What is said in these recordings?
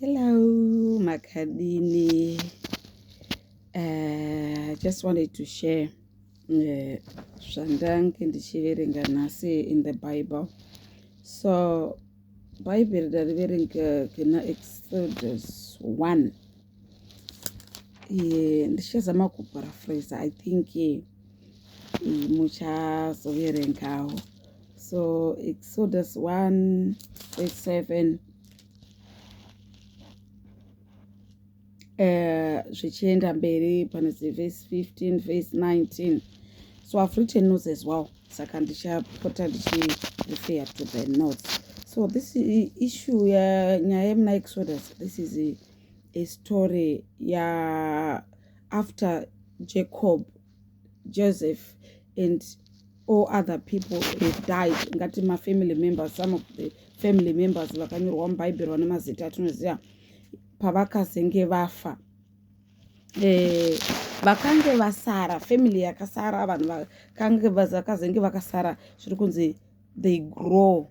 Hello, Makadini. Uh, I just wanted to share eh, zvandange uh, ndichiverenga nhasi in the Bible. So, Bible ndariverenga kena Exodus 1. Yeah, ndichazama kuparaphrase, I think yeah, muchazoverengawo. so exodus 1 verse 7 eh, zvichienda mberi panozi verse 15 verse 19 so i've written notes as well saka ndichapota ndichirefer to the notes so this issue ya nyaya yemuna exodus this is a, a story ya after jacob Joseph and all other people have died ngati mafamily members some of the family members vakanyorwa mubhaibheri vane mazita atinoziva pavakazenge vafa eh, vakange vasara family yakasara vanhu vakange vakazenge vakasara zviri kunzi they grow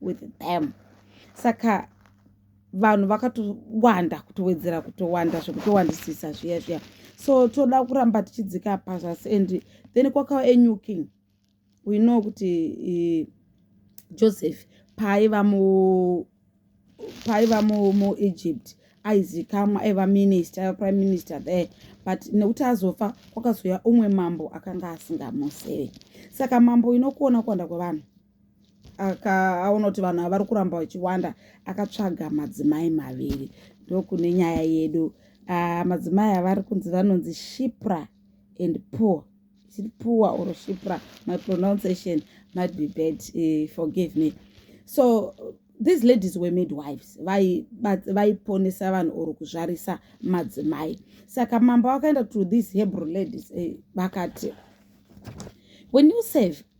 with them saka vanhu vakatowanda kutowedzera kutowanda zvekutowandisisa zviya zviya so toda kuramba tichidzika pazasi and then kwakava enyuking we know kuti eh, joseph paaiva mu paaiva mu, mu egypt aizikamwa aiva minister aiva prime minister there but nekuti azofa kwakazouya umwe mambo akanga asingamuseve saka mambo inokuona kuwanda kwevanhu akaona kuti vanhu avari kuramba vachiwanda akatsvaga madzimai maviri ndokune nyaya yedu uh, madzimai avari kunzi vanonzi shipra and poor is it poor or shipra my pronunciation might be bad uh, forgive me so these ladies were made wives vaiponesa vai vanhu or kuzvarisa madzimai saka mambo vakaenda to these hebrew ladies eh, vakati when you save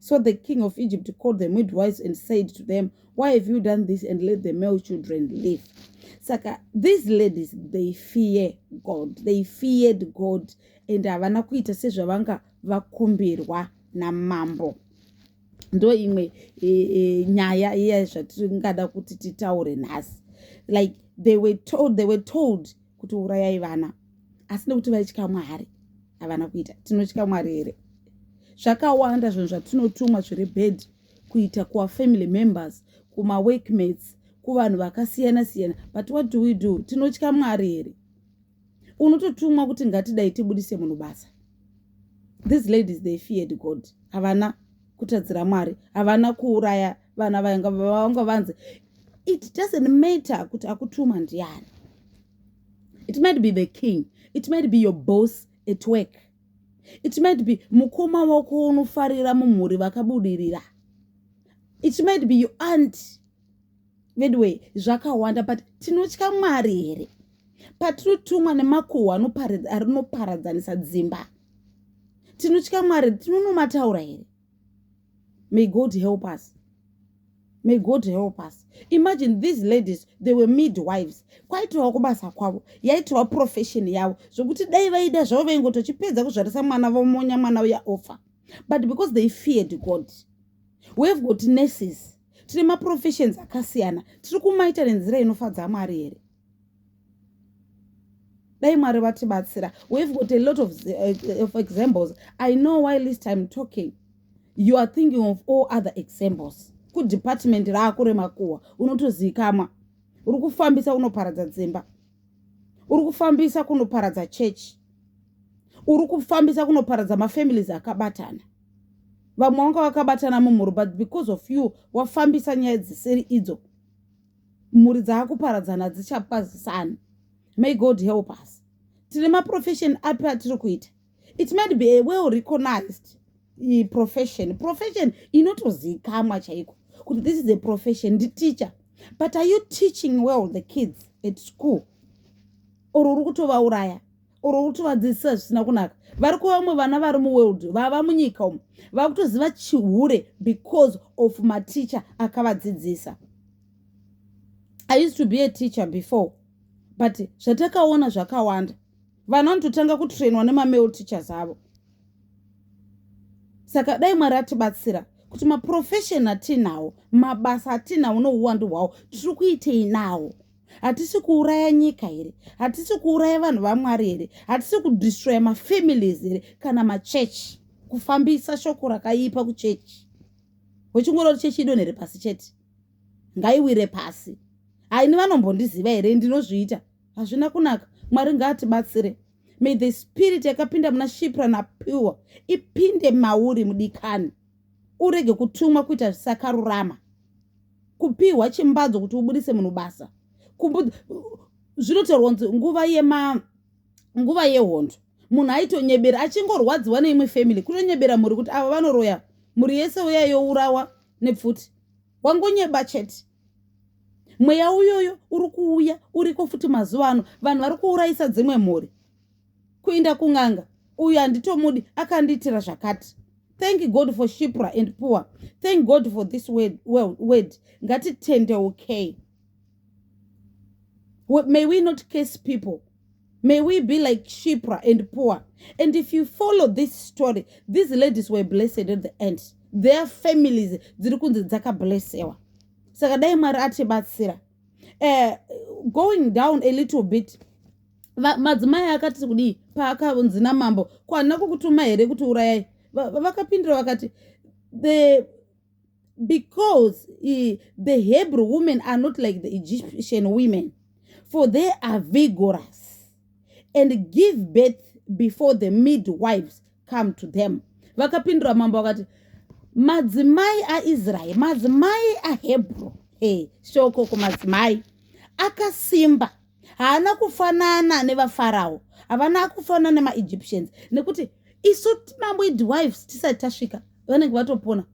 So the king of Egypt called the midwives and said to them, Why have you done this and let the male children live? Saka, these ladies, they fear God. They feared God. And havana kuita sezvavanga vakumbirwa namambo. Ndo imwe e, e, nyaya iya zvatingada kuti titaure nhasi. Like they were told, they were told kuti urayai vana asi nekuti vaitya mwari havana kuita tinotya mwari here zvakawanda zvinhu zvatinotumwa zviri bed kuita kuvafamily members kumaworkmates kuvanhu vakasiyana siyana but what do we do tinotya mwari here unototumwa kuti ngatidai tibudise munhu basa these ladies they feared god havana kutadzira mwari havana kuuraya vana vainga vanga vanzi it doesn't matter kuti akutuma ndiani it might be the king it might be your boss at work it might be mukoma wako unofarira mumhuri vakabudirira it might be your aunt veduway zvakawanda but tinotya mwari here patinotumwa nemakuhwa anoparadzanisa dzimba tinotya mwari tinonomataura here may god help us may god help us imagine these ladies they were midwives kwaitovawo kubasa kwavo yaitovawo profession yavo zvokuti dai vaida zvavo vaingotochipedza kuzvarisa mwana vomonya mwana uya ofa but because they feared god we have got nurses tine maprofessions akasiyana tiri kumaita nenzira inofadza mwari here dai mwari vatibatsira we've got a lot of, uh, of examples i know why least im talking you are thinking of all other examples kudepartment rako remakuhwa unotozivikamwa uri kufambisa unoparadza dzimba uri kufambisa kunoparadza chechi uri kufambisa kunoparadza mafamilies akabatana vamwe vanga vakabatana mumhuri but because of you wafambisa nyaya dzisiri idzo mhuri dzaakuparadzana hadzichakwazisani may god help us tine maprofession api atiri kuita it might be a well recognized eh, profession profession inotozikamwa chaiko kuti this is a profession nditeacher but are you teaching well the kids at school or uri kutovauraya uri kutovadzidzisa zvisina kunaka vari kuva vamwe vana vari muworld vava munyika umu vava kutoziva chihure because of maticha akavadzidzisa i used to be a teacher before but zvatakaona zvakawanda vana vanototanga kutrainwa nemamale teachers avo saka dai mwari atibatsira kuti maprofession atinawo mabasa atinawo nouwandu hwawo tiri kuitei nawo hatisi kuuraya nyika here hatisi kuuraya vanhu vamwari here hatisi kudestroya mafamilies here kana machechi kufambisa shoko rakaipa kuchechi wechingorori chechi idonhe repasi chete ngaiwire pasi haini vanombondiziva here ndinozviita hazvina kunaka mwari ngaatibatsire may the spirit yakapinda muna shipra napiwa ipinde mauri mudikani urege kutumwa kuita zvisakarurama kupiwa chimbadzo kuti ubudise munhu basa zvinotaurwa kunzi nguva yema nguva yehondo munhu aitonyebera achingorwadziwa neimwe family kutonyebera mhuri kuti ava vanoroya mhuri yese uya yourawa nepfuti wangonyeba chete mweya uyoyo uri kuuya uriko futi mazuva ano vanhu vari kuurayisa dzimwe mhuri kuinda kun'anga uyu handitomudi akandiitira zvakati thank god for shipra and poor thank god for this word, well, word. ngatitendeukei may we not case people may we be like shipra and poor and if you follow this story these ladies were blessed at the end their families dziri kunzi dzakablessewa saka dai mwari atibatsira uh, going down a little bit madzimai akati kudii paakavunzi namambo ko handina kukutuma here kuti urayai vakapindura vakati the because uh, the hebrew women are not like the egyptian women for they are vigorous and give birth before the midwives come to them vakapindura mambo vakati madzimai aisraeri madzimai ahebrew hey, shoko kumadzimai akasimba haana kufanana nevafarao havana kufanana nemaegyptians nekuti isu mamwidwives tisati tasvika vanenge vatopona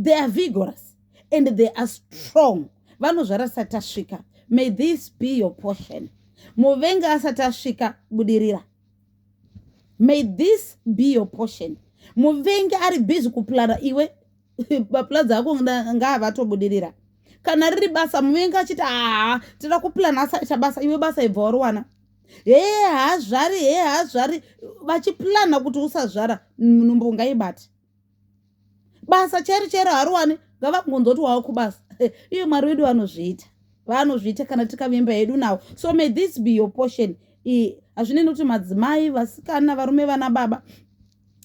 they are vigorous and they are strong vanozvara asati tasvika may this be your portion muvengi asati asvika budirira may this be your portion muvengi ari busy kuplana iwe maplanzi ako ngaavatobudirira kana riri basa muvengi achiti haa tira kuplan asaita basa iwe basa ibva wariwana hee haazvari hee haazvari vachiplana kuti usazvara nhumbu ngaibati basa chairo chairo hariwani ngavangonzoti wava kubasa iye mwari wedu vanozviita vanozviita kana tikavimba hedu nawo so may this be your portion hazvinei nokuti madzimai vasikana varume vana baba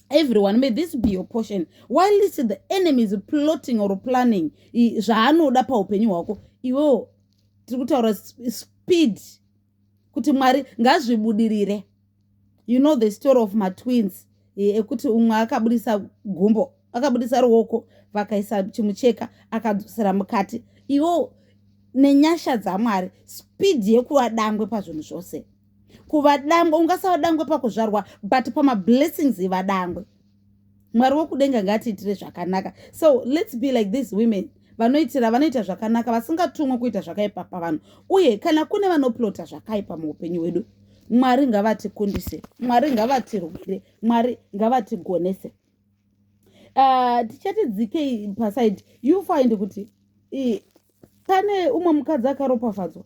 everyone may this be your portion while is the enemy is plotting or planning zvaanoda paupenyu hwako iwewo tiri kutaura speed kuti mwari ngazvibudirire you know the story of matwins eh, ekuti umwe akabudisa gumbo akabudisa ruoko vakaisa chimucheka akadzosera mukati iwo nenyasha dzamwari spidi yekuva dangwe pazvinhu zvose kuvadangwe ungasavadangwe pakuzvarwa but pamablessings evadangwe mwari wokudenga ngaatiitire zvakanaka so lets be like these women vanoitira vanoita zvakanaka vasingatumwe kuita zvakaipa pavanhu uye kana kune vanoplota zvakaipa muupenyu hwedu mwari ngavatikundise mwari ngavatirwire mwari ngavatigonese ah, tichati dzikei pasaidi you find kuti pane umwe mukadzi akaropafadzwa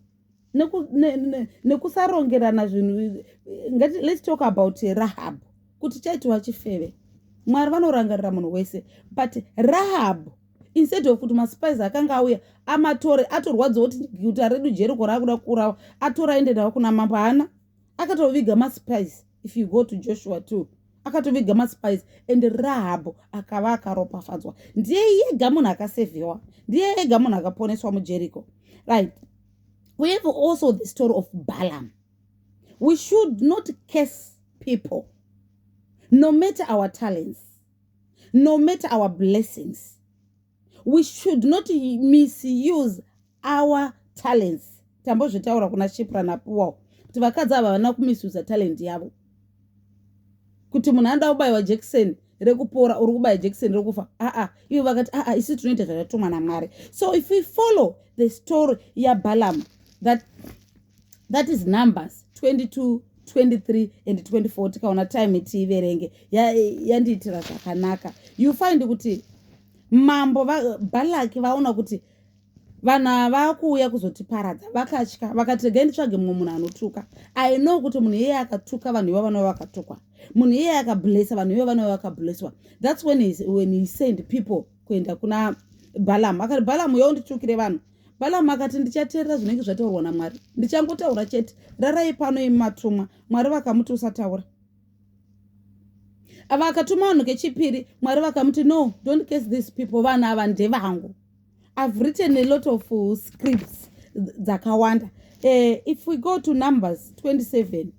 nekusarongerana ne, ne, zvinhu ngati let's talk about rahab kuti chaitwa chifeve mwari vanorangarira munhu wese but rahab instead of kuti maspice akanga auya amatore atorwadza kuti guta redu jeriko raakuda kuurawa atora aende nawo kuna mambo haana akatoviga maspice if you go to joshua too akatoviga maspice and rahabho akava akaropafadzwa ndiye yega munhu akasevhiwa ndiye yega munhu akaponeswa mujericho right we have also the story of balam we should not case people no matter our talents no matter our blessings we should not misuse our talents tambozvitaura kuna shipra napuwawo kuti vakadzi ava vana kumisusa talent yavo kuti munhu anoda kubayiwa jekiseni rekupora uri kubaya jekiseni rekufa aa ivo vakati aa isu tinoita zvatatumwa namwari so if we follow the story yabalaam that, that is numbers 22 23 and 24 tikaona time tiiverenge yandiitira ya zvakanaka you find kuti mambo balaki vaona kuti vanhu ava vakuuya kuzotiparadza vakatya vakati regai nditsvage mumwe munhu anotuka i know kuti munhu iyeye akatuka vanhu ivo vanova vakatukwa munhu iyeye akablessa vanhu ivo vanova vakablesswa thats when he, when he send people kuenda kuna balam akati balam uya unditukire vanhu balam akati ndichateerera zvinenge zvataurwa namwari ndichangotaura chete rarai pano imatumwa mwari vakamuti usataura ava akatuma vanhu kechipiri mwari vakamuti no don't case these people vanhu ava ndevangu i've written a lot of uh, scripts dzakawanda uh, if we go to numbers 27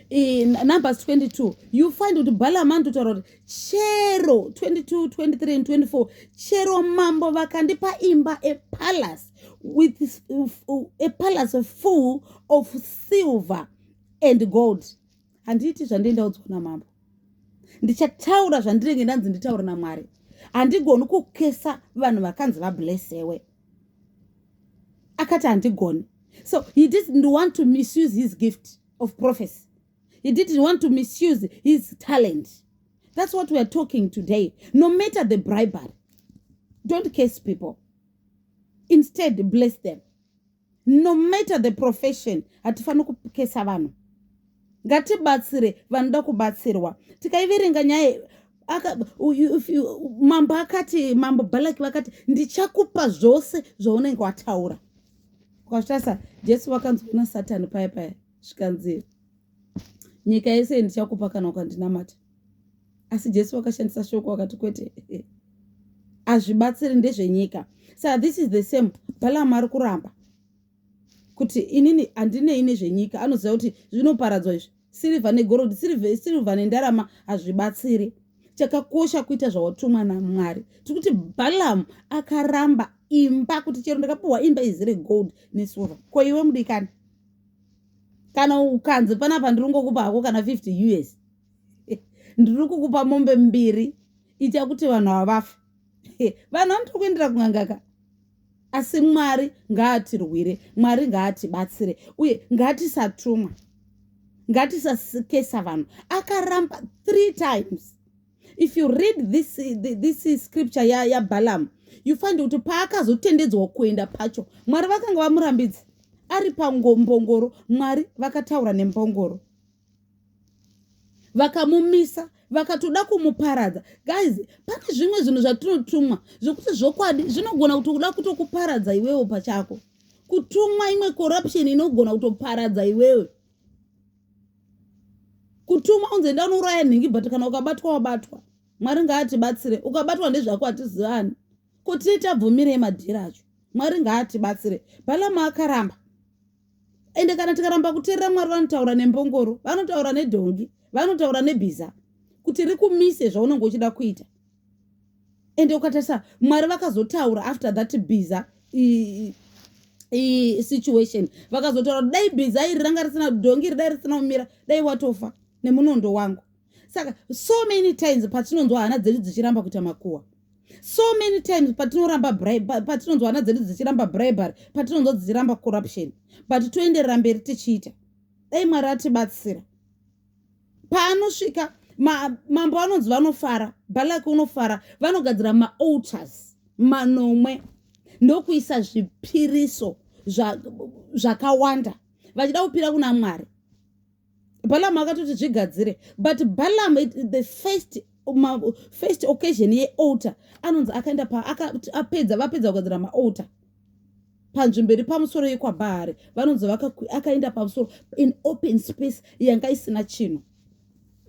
in numbers 22 you find kuti balama ndotaura kuti chero 22 23 and 24 chero mambo vakandipa imba a palace with a palace full of silver and gold handiiti zvandei ndaudzwa namambo ndichataura zvandirenge ndanzi nditaure namwari handigoni kukesa vanhu vakanzi vablesewe akati handigoni so he didn't want to misuse his gift of prophecy he didn't want to misuse his talent that's what weare talking today no matter the bribery don't case people instead bless them no matter the profession hatifaniri kukesa vanhu ngatibatsire vanoda kubatsirwa tikaiverenga nyaya mambo akati mambo balaki vakati ndichakupa zvose zvaunenge wataura ukazvitarisa jesu vakanzwina satani paya paya zvikanzi nyika yese ndichakupa kana ukandinamata asi jesu wakashandisa shoko wakati kwete hazvibatsiri ndezvenyika sa this is the same balaam ari kuramba kuti inini handinei nezvenyika anoziva kuti zvinoparadzwa izvi sirivha negorodi sirivha nendarama hazvibatsiri chakakosha kuita zvawatumwa namwari tiri kuti balaam akaramba imba kuti chero ndakapiwa imba izere gold nesilver ko iwe mudikani kana ukanzi panapa ndiri ngokupa hako kana 50 us ndiri kukupa mombe mbiri ita kuti vanhu havafe vanhu vanoto kuendera kungangaka asi mwari ngaatirwire mwari ngaatibatsire uye ngatisatumwa ngatisakesa vanhu akaramba three times if you read this, this scripture yabalaam ya you find kuti paakazotendedzwa kuenda pacho mwari vakanga vamurambidzi ari pangombongoro mwari vakataura nembongoro vakamumisa vakatoda kumuparadza guys pane zvimwe zvinhu zvatinotumwa zvekuti zvokwadi zvinogona kuti kuda kutokuparadza iwewo pachako kutumwa imwe corruption inogona kutoparadza iwewe kutumwa unzi enda unouraya nhingi but kana ukabatwa wabatwa mwari ngaatibatsire ukabatwa ndezvako hatizivani kuti tabvumirei madhiri acho mwari ngaatibatsire bhalama akaramba ende kana tikaramba kuteerera mwari vanotaura nembongoro vanotaura nedhongi vanotaura nebhiza kuti rikumise zvaunenge uchida kuita ende ukatarisa mwari vakazotaura after that biza situation vakazotaura kuti dai biza iri ranga risina dhongi ridai risina kumira dai watofa nemunondo wangu saka so many times patinonzwa hana dzedu dzichiramba kuita makuwa so many times patinoramba patinonzwa hana dzedu dzichiramba bribery patinonzwa dzichiramba corruption but toenderera mberi tichiita dai mwari atibatsira paanosvika mambo anonzi vanofara balaki unofara vanogadzira maaltars manomwe ndokuisa zvipiriso zvakawanda zva vachida kupira kuna mwari balamu akatoti zvigadzire but balamu the first ma, first occasion yealter anonzi akaenda paapedza vapedza kugadzira maalter panzvimbo iri pamusoro yekwabahari vanonzi akaenda pamusoro in open space yanga isina chinhu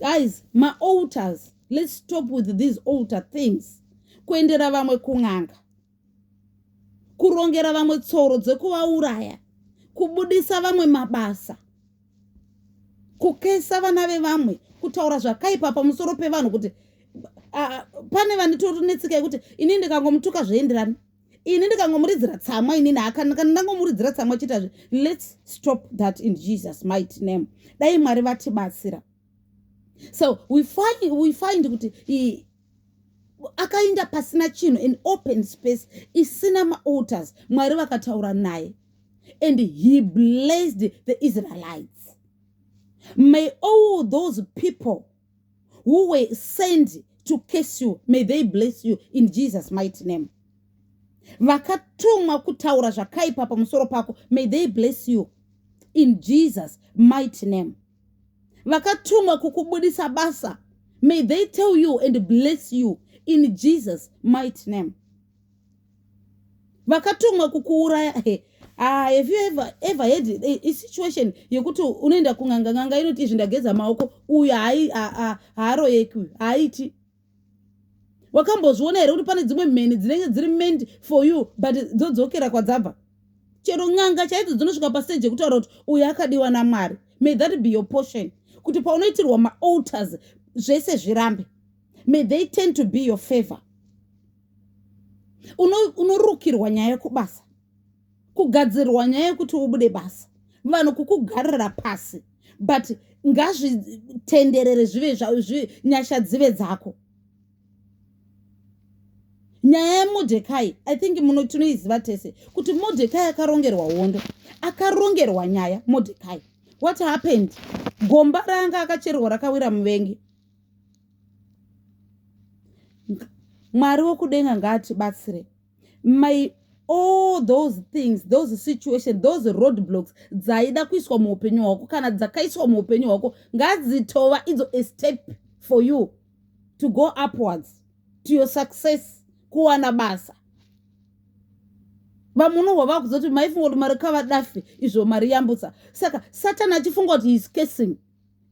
guys maalters let's stop with these alter things kuendera vamwe kun'anga kurongera vamwe tsoro dzekuvauraya kubudisa vamwe mabasa kukesa vana vevamwe kutaura zvakaipa pamusoro pevanhu kuti pane vane torinetsika yekuti inini ndikangomutuka zvoenderana ini ndikangomuridzira tsamwa inini hakana kana ndangomuridzira tsamwa chiitazve lets stop that in jesus might name dai mwari vatibatsira so we find, we find kuti akainda pasina chinhu in open space isina maalters mwari vakataura naye and he blessed the israelites may all those people who were send to case you may they bless you in jesus mighty name vakatumwa kutaura zvakaipa pamusoro pako may they bless you in jesus mighty name vakatumwa kukubudisa basa may they tell you and bless you in jesus mighty name vakatumwa kukuuraya he ah, have you ever, ever had a, a situation yekuti unoenda kun'anga n'anga inoti izvi ndageza maoko uyu haaroyeki uyu haaiti wakambozviona here kuti pane dzimwe mheni dzinenge dziri meant for you but dzodzokera kwadzabva chero n'anga chaidzo dzinosvika pasteji yekutaura kuti uyu akadiwa namwari may that be your portion kuti paunoitirwa maalters zvese zvirambe may they tend to be your favor unorukirwa nyaya yekubasa kugadzirwa nyaya yekuti ubude basa vanhu kukugarira pasi but ngazvitenderere zvive zvive nyasha dzive dzako nyaya yemodekai i think muno tinoiziva tese kuti modekai akarongerwa hondo akarongerwa nyaya modekai what happened gomba raanga akacherwa rakawira muvengi mwari wokudenga ngaatibatsire my all those things those situation those road blocks dzaida kuiswa muupenyu hwako kana dzakaiswa muupenyu hwako ngadzitova idzo a step for you to go upwards to your success kuwana basa vamwe unohwa vava kuzoti maifunga kuti mari kavadafi izvo mari yambutsa saka satani achifunga kuti heis casing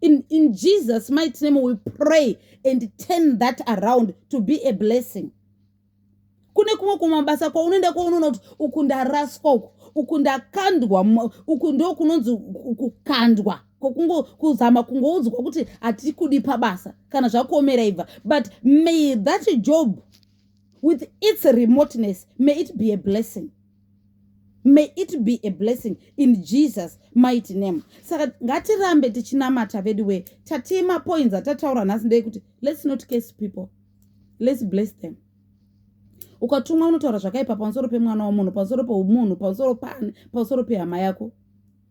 in, in jesus might name we pray and turn that around to be a blessing kune kumwe kumwe mabasa kwaunoenda kwaunoona kuti uku ndaraswa uku uku ndakandwa uku ndo kunonzi kukandwa kokungo kuzama kungoudzwa kuti hatikudi pabasa kana zvakuomera ibva but may that job with its remoteness may it be a blessing may it be a blessing in jesus mighty name saka ngatirambe tichinamata vedu wee tatii mapoints atataura nhasi ndei kuti let's not case people let's bless them ukatumwa unotaura zvakaipa pamusoro pemwana wamunhu pamusoro pemunhu pamusoro paani pamusoro pehama yako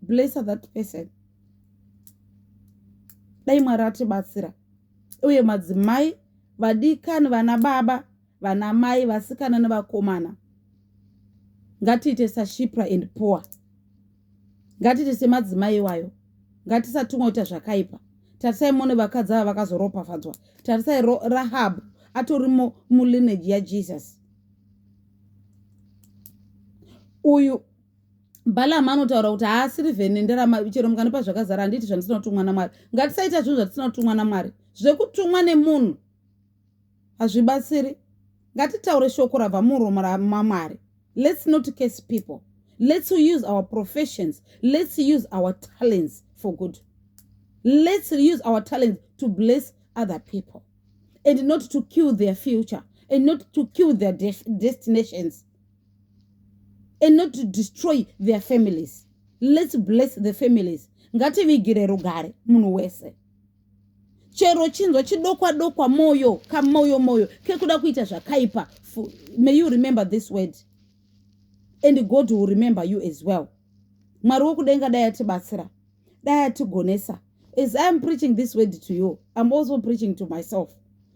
bless that person dai mwari atibatsira uye madzimai vadikani vana baba vana mai vasikana nevakomana ngatiite sashipra and poor ngatiite semadzimai iwayo ngatisatumwa kuita zvakaipa tarisai mone vakadzi ava vakazoropafadzwa tarisai rahab atori mulineji yajesus uyu balaam anotaura kuti haasiri vhene ndarama chero mukanipa zvakazara handiti zvandisina kutumwa namwari ngatisaita zvinhu zvatisina kutumwa namwari zvekutumwa nemunhu hazvibatsiri ngatitaure shoko rabva muromo ramamwari lets not case people lets use our professions lets use our talents for good lets use our talents to bless other people and not to kill their future and not to kill their de destinations and not to destroy their families lets bless the families ngativigire rugare munhu wese chero chinzwa chidokwa dokwa moyo kamoyo moyo kekuda kuita zvakaipa may you remember this word and god will remember you as well mwari wokudenga dai atibatsira dai atigonesa as iam preaching this word to you iam also preaching to myself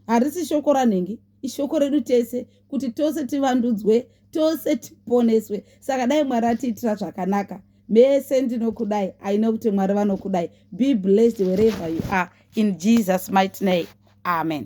harisi shoko ranhingi ishoko redu tese kuti tose tivandudzwe tose tiponeswe saka dai mwari atiitira zvakanaka mese ndinokudai i know kuti mwari vanokudai be blessed wherever you are in jesus might name amen